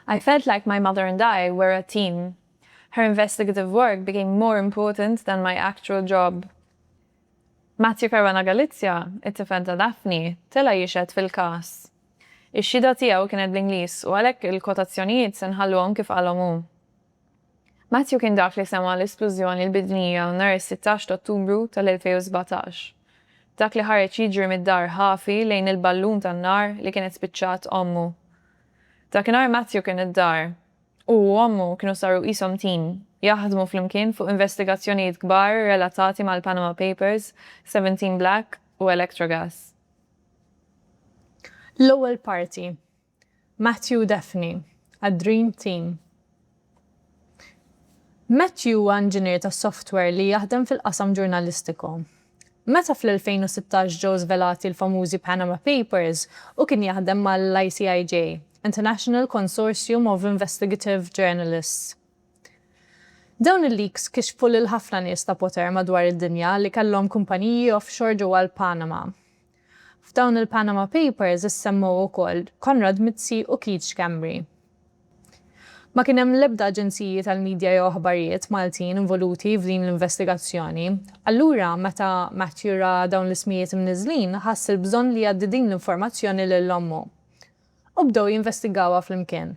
I felt like my mother and I were a team. Her investigative work became more important than my actual job. Matthew Caruana Galizia, it-tifel ta' Daphne, tela' jixhed fil-każ. Ix-xhieda tiegħu kienet bl-Ingliż u għalhekk il-kwotazzjonijiet se nħalluhom kif qalhom hu. Matthew kien dak li sema' l-isplużjoni l-bidnija nhar is-sittax t'Ottubru tal-2017. Dak li ħareġ jiġri mid-dar ħafi lejn il-ballun tan-nar li kienet spiċċat ommu. Dakinhar Matthew kien id-dar. Hu u ommu kienu saru qishom tim, jaħdmu flimkien fuq investigazzjonijiet kbar relatati mal-Panama Papers, Seventeen Black u Electrogas. L-ewwel parti. Matthew Daphne, għad-Dream Team Matthew huwa inġinier ta' software li jaħdem fil-qasam ġurnalistiku. Meta fl-2016 ġew żvelati l-famużi Panama Papers, hu kien jaħdem mal-ICIJ, International Consortium of Investigative Journalists. Dawn il-leaks kixfu lil ħafna nies ta' poter madwar id-dinja li kellhom kumpaniji offshore ġewwa l-Panama. F'dawn il-Panama Papers issemmew ukoll Konrad Mizzi u Keith Schembri. Ma kien hemm l-ebda aġenziji tal-midja jew aħbarijiet Maltin involuti f'din l-investigazzjoni. Allura, meta Matthew ra dawn l-ismijiet imniżżlin, ħass il-bżonn li jgħaddi din l-informazzjoni lil ommu. U bdew jinvestigawha flimkien.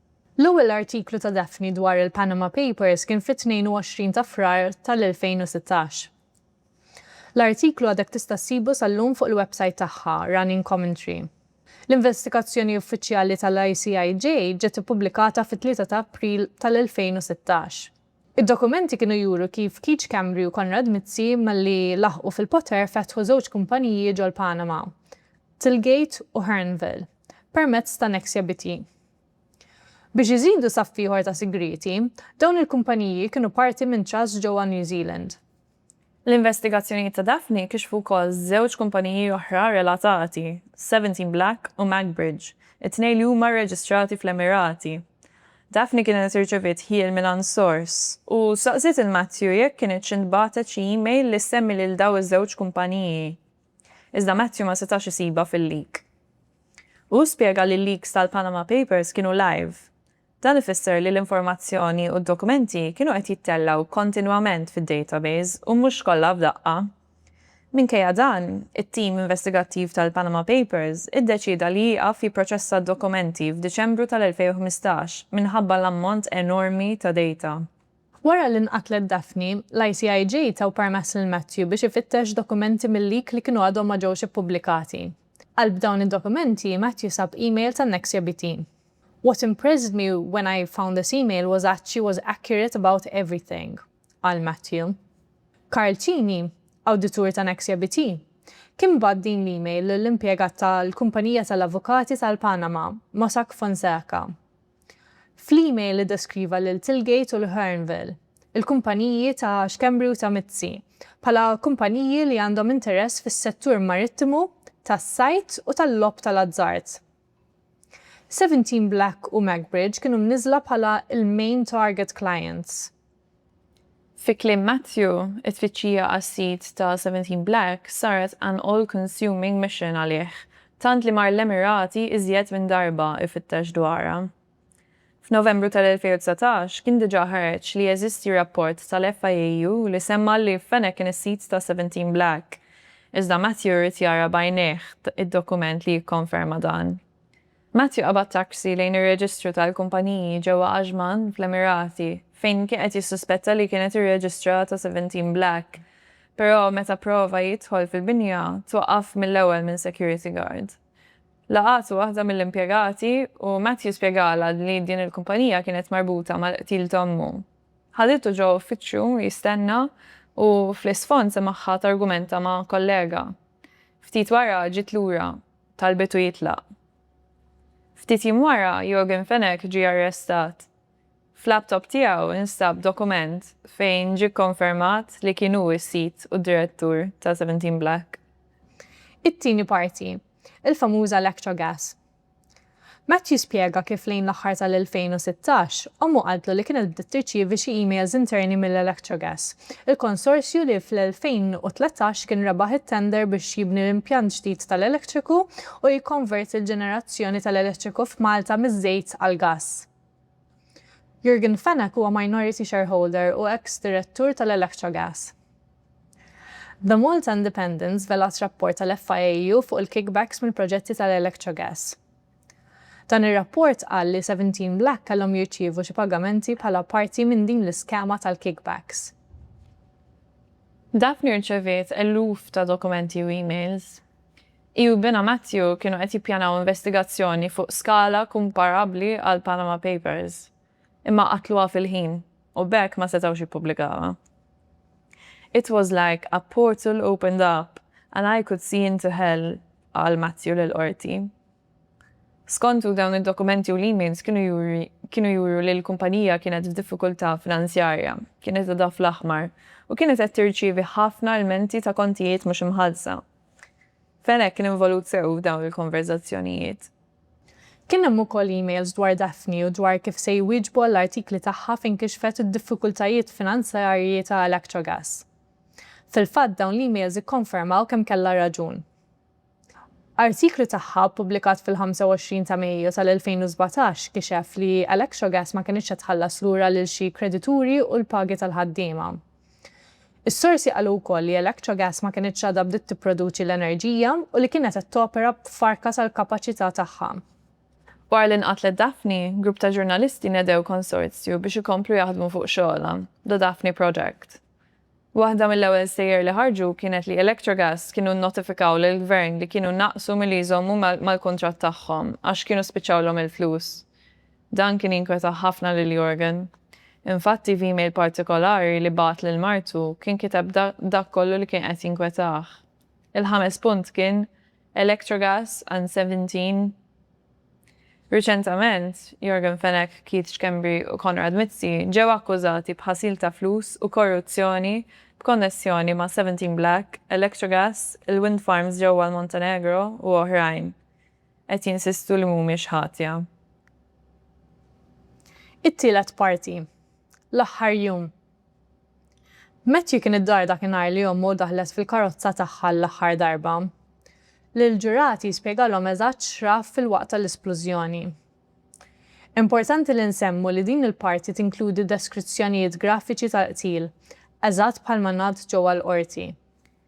L-ewwel artiklu ta' Daphne dwar il-Panama Papers kien fit-22 ta' Frar tal-2016. L-artiklu għadek tista' ssibu sal-lum fuq il-websajt tagħha, Running Commentary. L-investigazzjoni uffiċjali tal-ICIJ ġiet ippubblikata fit-3 ta' April tal-2016. Id-dokumenti kienu juru kif Keith Schembri u Konrad Mizzi malli laħqu fil-poter fetħu żewġ kumpaniji ġol-Panama, Tilgate u Hernville, permezz ta' Nexia BT. Biex iżidu saff ieħor ta' sigrieti, dawn il-kumpaniji kienu parti minn trust ġewwa New Zealand. L-investigazzjonijiet ta' Daphne kixfu wkoll żewġ kumpaniji oħra relatati, Seventeen Black u Magbridge, it-tnejn li huma rreġistrati fl-Emirati. Daphne kienet irċeviet ħjiel mingħand sors u staqsiet lil Matthew jekk kinitx intbagħtet xi email li ssemmi lil dawn iż-żewġ kumpaniji. Iżda Matthew ma setax isibha fil-leak. Hu spjega li l-leaks tal-Panama Papers kienu live, Dan ifisser li l-informazzjoni u d-dokumenti kienu qed jittellgħu kontinwament fid-database u mhux kollha f'daqqa. Minkejja dan, it-tim investigattiv tal-Panama Papers iddeċieda li jieqaf jipproċessa d-dokumenti f'Diċembru tal-2015 minħabba l-ammont enormi ta' data. Wara li nqatlet Daphne, l-ICIJ taw permess lil Matthew biex ifittex dokumenti mil-leak li kienu għadhom ma ġewx ippubblikati. Qalb dawn id-dokumenti, Matthew sab email tan-Nexia BT. What impressed me when I found this email was that she was accurate about everything, qal Matthew. Karl Cini, awditur ta' Nexia BT, kien bagħat din l-email lill-impjegat tal-kumpanija tal-avukati tal-Panama, Mossack Fonseca. Fl-email iddeskriva lil Tilgate u l-Hearnville, il-kumpaniji ta' Schembri u ta' Mizzi, bħala kumpaniji li għandhom interess fis-settur marittimu, tas-sajd u tal-logħob tal-azzard. Seventeen Black u Magbridge kienu mniżżla bħala l-main target clients. Fi kliem Matthew, it-tfittxija għas-sid ta' Seventeen Black saret an all-consuming mission għalih, tant li mar l-Emirati iżjed minn darba ifittex dwarha. F'Novembru tal-2019 kien diġà ħareġ li jeżisti rapport tal-FIAU li semma li Fenech kien is-sid ta' Seventeen Black, iżda Matthew ried jara b'għajnejh id-dokument li jikkonferma dan. Matthew qabad taxi lejn ir-reġistru tal-kumpaniji ġewwa Ajman, fl-Emirati, fejn kien qed jissuspetta li kienet irreġistrata Seventeen Black, però meta pprova jidħol fil-binja twaqqaf mill-ewwel minn security guard. Laqgħet waħda mill-impjegati u Matthew spjegalha li din il-kumpanija kienet marbuta mal-qtil ta' ommu. Ħaditu ġo uffiċċju jistenna u fl-isfond semagħha targumenta ma' kollega. Ftit wara ġiet lura, talbitu jitlaq. Ftit jiem wara Yorgen Fenech ġie arrestat F'laptop tiegħu instab dokument fejn ġie kkonfermat li kien hu s-sid u d-direttur ta' Seventeen Black. It-tieni parti, il-famuża Electro Gas. Matt jispjega kif lejn l-aħħar tal-2016, ommu qaltlu li kienet bdiet tirċievi xi emails interni mill-Electro Gas, il-konsorzju li fl-2013 kien rebaħ it-tender biex jibni l-impjant ġdid tal-elettriku u jikkonverti l-ġenerazzjoni tal-elettriku f'Malta miż-żejt għall-gass. Jurgen Fenech huwa minority shareholder u eks direttur tal-Electrogas. The Malta Independent żvelat rapport tal-FIAU fuq il-kickbacks mill-proġetti tal-Electrogas. Dan ir-rapport qal li Seventeen Black kellhom jirċievu xi pagamenti bħala parti minn din l-iskema tal-kickbacks. Daphne rċeviet eluf ta' dokumenti u emails. Hi u binha Matthew kienu qed jippjanaw investigazzjoni fuq skala kumparabbli għall-Panama Papers, imma qatluha fil-ħin u b'hekk ma setgħux jippubblikawha. It was like a portal opened up and I could see into hell, qal Matthew lill-Qorti. Skontu, dawn id-dokumenti u l-emails kienu juru li l-kumpanija kienet f'diffikultà finanzjarja, kienet għadha fl-aħmar, u kienet qed tirċievi ħafna lmenti ta' kontijiet mhux imħallsa. Fenech kien involut sew f'dawn il-konverżazzjonijiet. Kien hemm ukoll emails dwar Daphne u dwar kif se jwieġbu għall-artikli tagħha fejn kixfet id-diffikultajiet finanzjarji ta' Electrogas. Fil-fatt dawn l-emails ikkonfermaw kemm kellha raġun. Artiklu tagħha ppubblikat fil-25 ta' Mejju tal-2017 kixef li Electrogas ma kinitx qed tħallas lura lil xi kredituri u l-pagi tal-ħaddiema. Is-sorsi qalu wkoll li Electrogas ma kinitx għadha bdiet tipproduċi l-enerġija u li kienet qed topera b'farka tal-kapaċità tagħha. Wara li nqatlet Daphne, grupp ta' ġurnalisti nedew konsorzju biex ikomplu jaħdmu fuq xogħolha, The Daphne Project. Waħda mill-ewwel stejjer li ħarġu kienet li Electrogas kienu nnotifikaw lill-Gvern li kienu naqsu milli jżommu mal-kuntratt tagħhom għax kienu spiċċawlhom il-flus. Dan kien jinkweta ħafna lil Jurgen. Infatti f'email partikolari li bagħat lil martu kien kiteb dak kollu li kien qed jinkwetah. Il-ħames punt kien Electrogas and Seventeen. Riċentament, Jurgen Fenech, Keith Schembri u Konrad Mizzi ġew akkużati b'ħasil ta' flus u korruzzjoni b'konnessjoni ma' Seventeen Black, Electrogas, il-wind farms ġewwa l-Montenegro u oħrajn. qed jinsistu li mhumiex ħatja. It-tielet parti, L-aħħar jum. Matthew kien id-dar dak in-nhar li ommu daħlet fil-karozza tagħha l-aħħar darba. Lill-ġurati spjegalhom eżatt x'ra filwaqt tal-isplużjoni. Importanti li nsemmu li din il-parti tinkludi deskrizzjonijiet grafiċi tal-qtil, eżatt bħalma ngħad ġewwa l-Qorti.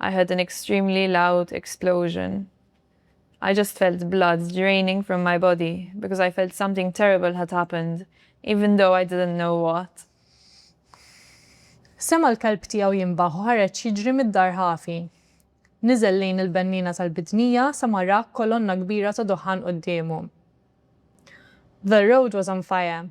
I heard an extremely loud explosion. I just felt blood draining from my body because I felt something terrible had happened even though I didn't know what. Sema' l-kelb tiegħu jinbaħ u ħareġ jiġri mid-dar ħafi. Niżel lejn il-benniena tal-bidnija sa ma ra kolonna kbira ta' duħħan quddiemu. The road was on fire.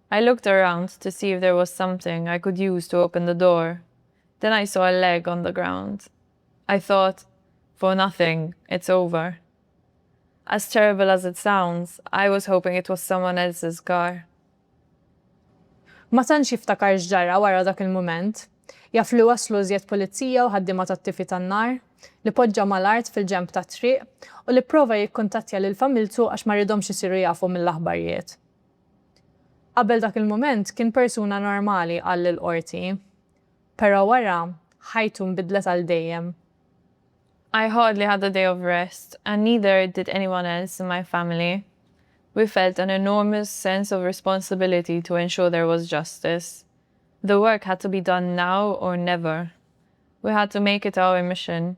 I looked around to see if there was something I could use to open the door, then I saw a leg on the ground. I thought, for nothing, it's over. As terrible as it sounds, I was hoping it was someone else's car. Ma tantx jiftakar x'ġara wara dak il-mument. Jaf li waslu iżjed pulizija u ħaddiema tat-tifi tan-nar, li poġġa mal-art fil-ġenb tat-triq u li pprova jikkuntattja lil familtu għax ma ridhomx isiru jafu mill-aħbarjiet. Qabel dak il-mument kien persuna normali, qal lill-Qorti. Però wara, ħajtu nbidlet għal dejjem. I hardly had a day of rest, and neither did anyone else in my family. We felt an enormous sense of responsibility to ensure there was justice. The work had to be done now or never. We had to make it our mission.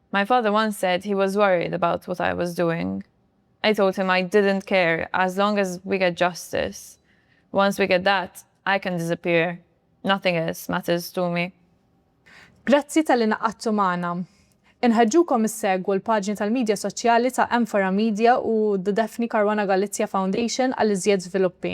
My father once said he was worried about what I was doing. I told him I didn't care as long as we get justice. Once we get that, I can disappear. Nothing else matters to me. Grazzi talli ngħaqadtu magħna. Inħeġġukom issegwu l-paġni tal-midja soċjali ta' Amphora Media u The Daphne Caruana Galizia Foundation għal iżjed żviluppi.